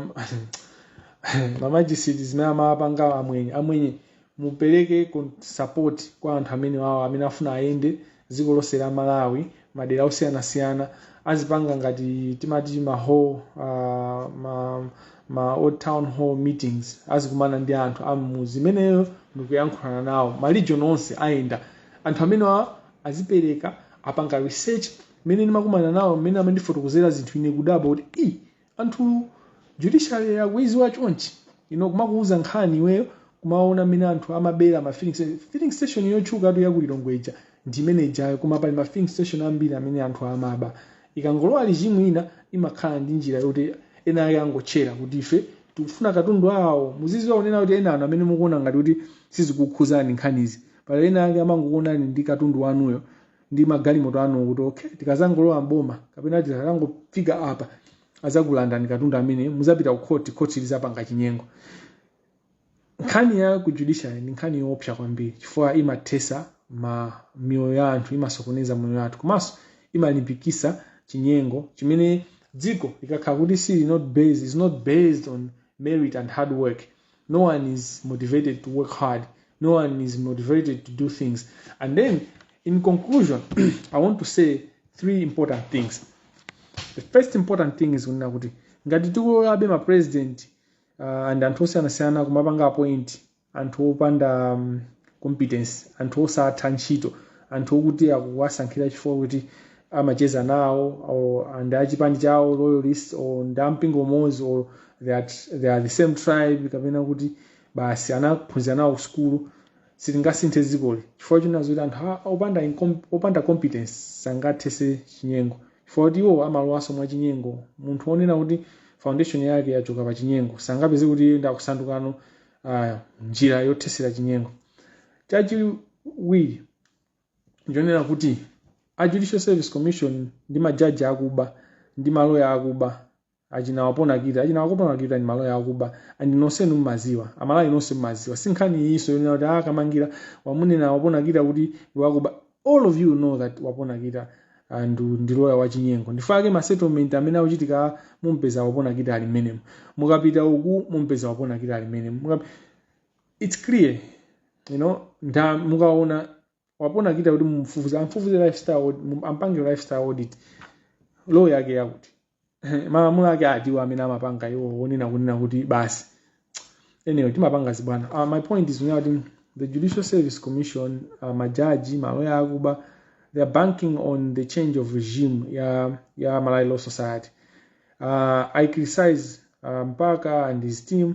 ma magistrate zimene amapanga amwenye amwenye mupereke kon- support kwa anthu amenewawo amene afuna ayende dziko lonse la malawi madera osiyanasiyana azipanga ngati timati ma hall uh, ma, ma old town hall meetings azikumana ndi anthu ammuzi imeneyo ndikuyankhulana nawo ma region onse ayenda anthu amenewa azipereka apanga research mmene ndimakumana nawo mmene amandifotokozera zinthu ine kudabwa kuti i anthu judiciary akuiziwa chonchi ino kumakuuza nkhani iweyo kumaona mmene anthu amabera ma filling station filling station yotchukatu yakulilongwe ija ndi imene ijayo koma pali ma filling station ambiri amene anthu amaba ikangolowa regime ina imakhala ndi njira yoti ena ake angotchera kuti ife tikufuna katundu awo muziziwa kunena kuti enanu amene mukuona ngati kuti sizikukhuzani nkhanizi pali ena ake amangokuonani ndi katundu wanuyo ndi magalimoto anu kuti okay tikazangolowa mboma kapena tikazangofika apa azakulandani katundu amene muzapita ku khoti khoti lizapanga chinyengo nkhani ya ku judiciary ndi nkhani yoopsa kwambiri chifukwa imathesa ma miyoyo ya anthu imasokoneza moyo wathu komanso imalimbikisa chinyengo chimene dziko likakhala kuti sili not based is not based on merit and hard work no one is motivated to work hard no one is motivated to do things and then in conclusion i want to say three important things the first important thing is kunena kuti ngati tikulolabe ma president uh, and anthu osiyanasiyana kumapanga appoint anthu opanda um, competence anthu osatha ntchito anthu okuti akuwasankhira chifukwa kuti amacheza nawo or ndi achipani chawo loyalist or ndi ampingo umodzi or they are, they are the same tribe kapena kuti basi anaphunzira nawo kusukulu sitingasinthe dzikoli chifukwa chonena kuti anthu a- opanda, incom- opanda competence sangathese chinyengo chifukwa kuti iwo amalowanso mwa chinyengo munthu onena kuti foundation yake yachoka pa chinyengo sangapeze kuti iye ndakusandukano uh, njira yothesera chinyengo chachiwiri chonena kuti a judicial service commission ndi majaji akuba ndi maloya akuba achina wapona kita achina wakopona kita ndi maloya akuba and nonsenu mmaziwa amalawi nonse mmaziwa si nkhani iyinso yonena kuti ah kamangila wamunena wapona kita kuti ndi wakuba all of you know that wapona kita and ndi loya wachinyengo ndifake ma settlement amene akuchitika mumpeza wapona kita ali mmenemo mukapita uku mumpeza wapona kita ali mmenemo Mukapi- it's clear you know nda mukawona pena kuchita kuti mumfufuze amfufuze lifestyle aud- mum- ampange lifestyle audit law yake yakuti malamulo ake atiwa amene amapanga iwo onena kunena kuti basi anyway timapanga zibwana uh, my point is kunena kuti the judicial service commission uh, majaji maloya akuba they are banking on the change of regime ya, ya malawi law society uh, i criticize uh, mpaka and his team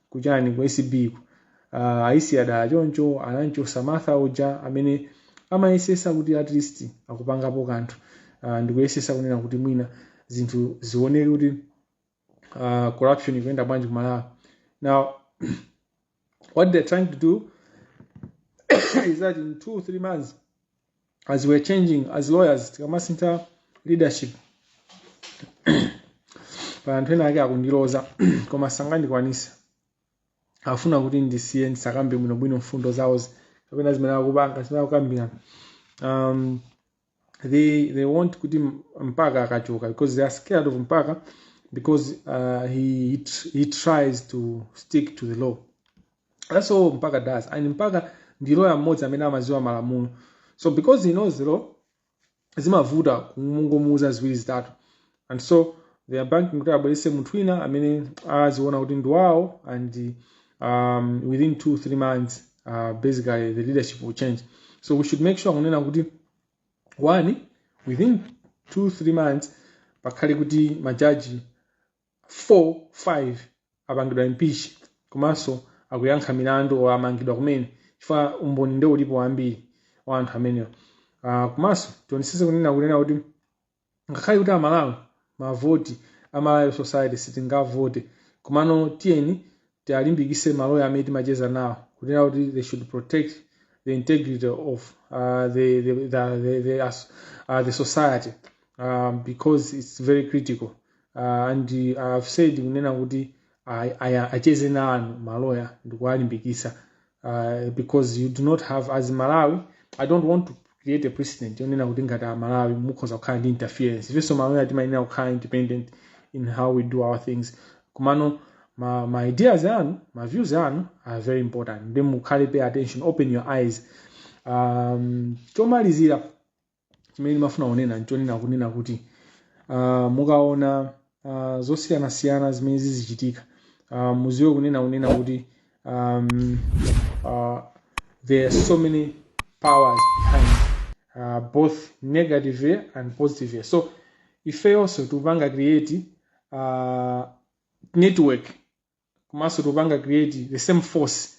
kujeni ku acb ku uh, aisiya dala choncho ananchosa martha uja amene amayesesa kuti at least akupangapo kanthu uh, ndikuyesesa kunena kuti mwina zinthu zioneke kuti uh, corruption ikuyenda bwanji ku malawi now what they're trying to do is that in two three months as we're changing as lawyers tikamasintha leadership pa anthu ena ake akundiloza koma sangandikwanise afuna kuti ndisiye ndisakambe bwinobwino mfundo zawo kapena zimene akupanga zimene akukambirana um, they they want kuti mpaka akachoka because they are scared of mpaka because uh, he, he tr- he tries to stick to the law that's all mpaka does and mpaka ndi lawyer mmodzi amene amaziwa malamulo so because he knows the law zimavuta kumangomuuza ziwiri zitatu and so they are banking kuti abwerese munthu wina amene aziona kuti ndi wawo and um, within two three months uh, basically the leadership will change so we should make sure kunena kuti one within two three months pakhale kuti majaji 4 5 apangidwa impeach komanso akuyankha milandu or amangidwa kumene chifukwa umboni nde ulipo wambiri wa anthu amenewa uh, komanso tionesese kunena kunena kuti ngakhale kuti amalawi mavoti a malawi society sitingavote komano tiyeni tialimbikise maloya amene timacheza nawo kunena kuti they should protect the integrity of uh, the, the, the, the, the, as- uh, the society um, because it's very critical uh, and uh, i've said kunena kuti a- a- acheze nanu maloya ndikuwalimbikisa uh, because you do not have as malawians i don't want to create a precedent yonena kuti ngati amalawi mukhoza kukhala ndi interference ifenso maloya timayenera kukhala independent in how we do our things komano ma, ma ideas anu ma views anu are very important nde mukhale pay attention open your eyes um, chomalizira chimene ndimafuna kunena nchonena kunena kuti ah, mukaona ah, zosiyanasiyana zimene zizichitika ah, muziwe kunena kunena kuti um, uh, there are so many powers behind uh, both negative and positive so ifeyonso tikupanga create uh, network komanso tikupanga create the same force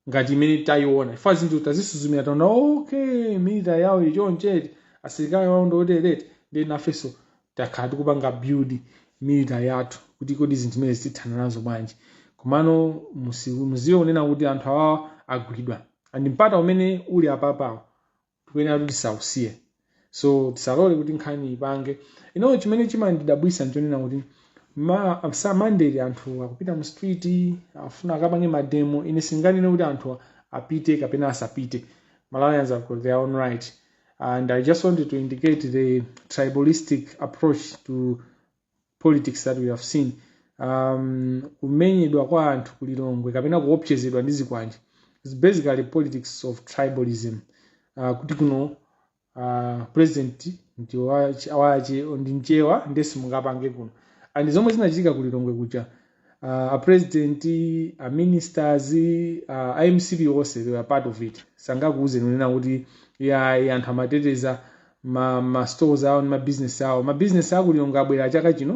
ngati imene tayiona chifukwa zinthu tazisuzumira taona okay military yawo ili choncheti asilikali awo ndi otereti ndiye nafenso takhala tikupanga build military yathu kuti kodi zinthu zimene zitithana nazo bwanji komano musi- muziwe kunena kuti anthu awa agwidwa and mpata umene uli apapawo tikuyenera kuti tisausiye, so tisalole kuti nkhani ipange ino chimene chimandidabwisa nchonena kuti Monday anthu akupita mu street akufuna akapange mademo ine singanene kuti anthu apite kapena asapite malawians have got their own right and i just wanted to indicate the tribalistic approach to politics that we have seen um, kumenyedwa kwa anthu ku lilongwe kapena kuopsezedwa ndi zikwanje is basically politics of tribalism uh, kuti kuno uh, president ndi wache wache- ndi mchewa nde simungapange kuno and zomwe zinachitika ku lilongwe kuja uh, a president a ministers uh, a mcp onse they were part of it sangakuuzeni kunena kuti iyayi anthu amateteza ma, ma stores awo ndi ma business awo ma business awo ku lilongwe abwera chaka chino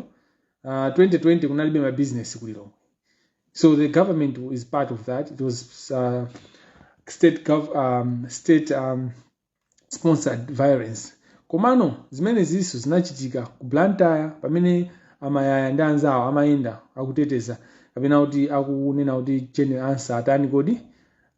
uh, 2020 kunalibe ma business ku lilongwe so the government is part of that it was uh, state gov um, state um, sponsored violence komano zimenezinso zinachitika ku blantyre pamene a mayaya ndi anzawo amayenda akuteteza kapena kuti akunena kuti jane ansah atani kodi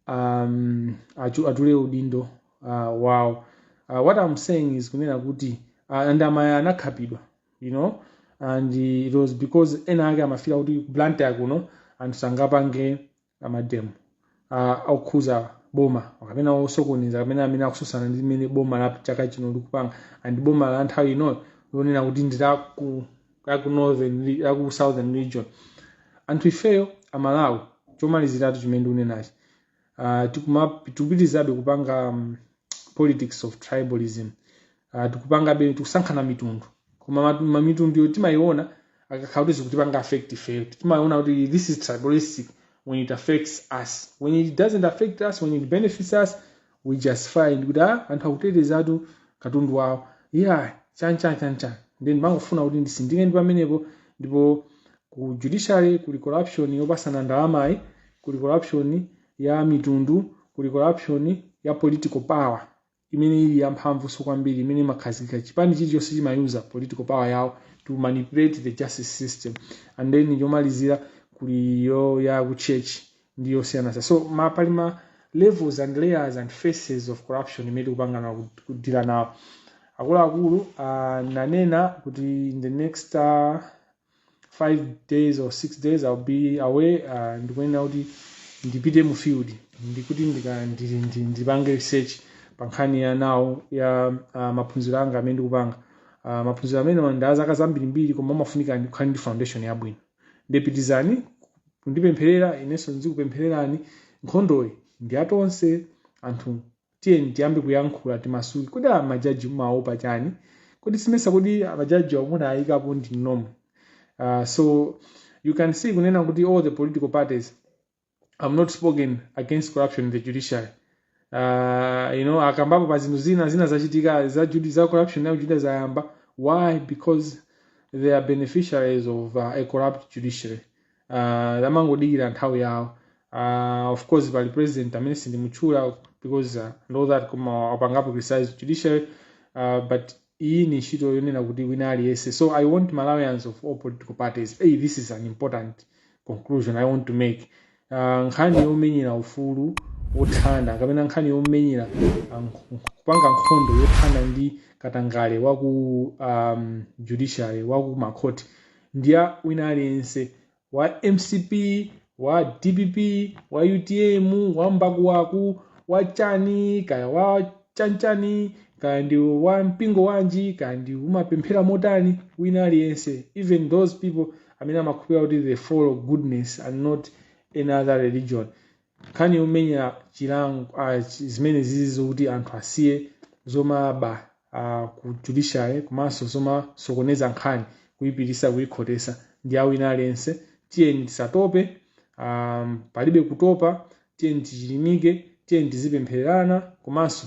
um, achu- atule udindo uh, wawo uh, what i'm saying is kunena kuti uh, and a mayaya anakhapidwa you know and it was because ena ake amafila kuti ku blantyre kuno anthu sangapange mademo ah, okhudza boma kapena osokoneza kapena amene akutsutsana ndi mmene boma la chaka chino likupanga and boma la nthawi inoyo lonena kuti ndi la ku la ku northern re- la ku southern region anthu ifeyo amalawi chomaliziratu chimene ndikunenachi uh, tikupitirizabe kupanga um, politics of tribalism uh, tikupangabe tikusankhana mitundu koma ma- mitunduyo timayiona akakhala kuti zikutipanga affect ife timayiona kuti this is tribalistic when it affects us when it doesn't affect us when it benefits us we just find kuti ah, anthu akutetezatu katundu wawo yeah chanchan chanchan nde mangofuna kuti nditsindike pamenepo ndipo ku judiciary kuli corruption yopatsana ndalamayi kuli corruption ya mitundu, kuli corruption ya political power imene ili yamphamvunso kwambiri imene imakhazikika chipani chilichonse chimayuza political power yawo to manipulate the justice system and then yomalizira kuli iyo ya ku church ndi yosiyanaso so ma pali ma levels and layers and faces of corruption imene tikupanga ku- kudila nawo akuluakulu ananena kuti in the next uh, 5 days or 6 days I'll be away uh, ndikuyenera kuti ndipite mu field ndikuti ndika- ndi- ndi- ndipange research pa nkhani ya nawo ya uh, maphunziro anga amene ndikupanga uh, maphunziro amene ndi ya zaka zambirimbiri koma amafunika ndikhale ndi foundation yabwino nde pitirizani kundipempherera inenso ndizikupemphererani nkhondoyi ndi ya tonse anthu tiyeni tiyambe kuyankhula timasuke kodi amajaji mumaopa chani kodi simesa kodi majaji amuna ayikapo ndi nomo uh, so you can see kunena kuti all the political parties have not spoken against corruption in the judiciary uh, you know akambapo pa zinthu zina zina zachitika za, judi- za corruption nayo juda zayamba why because they are beneficiaries of uh, a corrupt judiciary uh, amangodikira nthawi yawo uh, of course pali pulezidenti amene sindimutchula because uh, know that koma wapangapo criticize judiciary uh, but iyi ndi ntchito yonena kuti wina aliyense so i want malawians of all political parties hey, this is an important conclusion i want to make uh, nkhani yomenyera ufulu wothana kapena nkhani yomenyera um, kupanga nkhondo yothana ndi katangale waku um, judiciary waku makhoti ndi ya wina aliyense wa mcp wa dpp wa utm wa mbakuwaku wa chani kaya wa chanchani kaya ndi wa mpingo wanji kaya ndi umapemphera motani wina aliyense even those people amene amakhulupirira kuti they follow goodness and not any other religion nkhani yomenyera chilango ah, chi- zimene zizi zokuti anthu asiye zomaba ah, ku judiciary komanso zomasokoneza nkhani kuyipitisa kuyikhotesa ndi ya wina aliyense tiyeni tisatope um, palibe kutopa tiyeni tichilimike tiyeni tizipemphererana komanso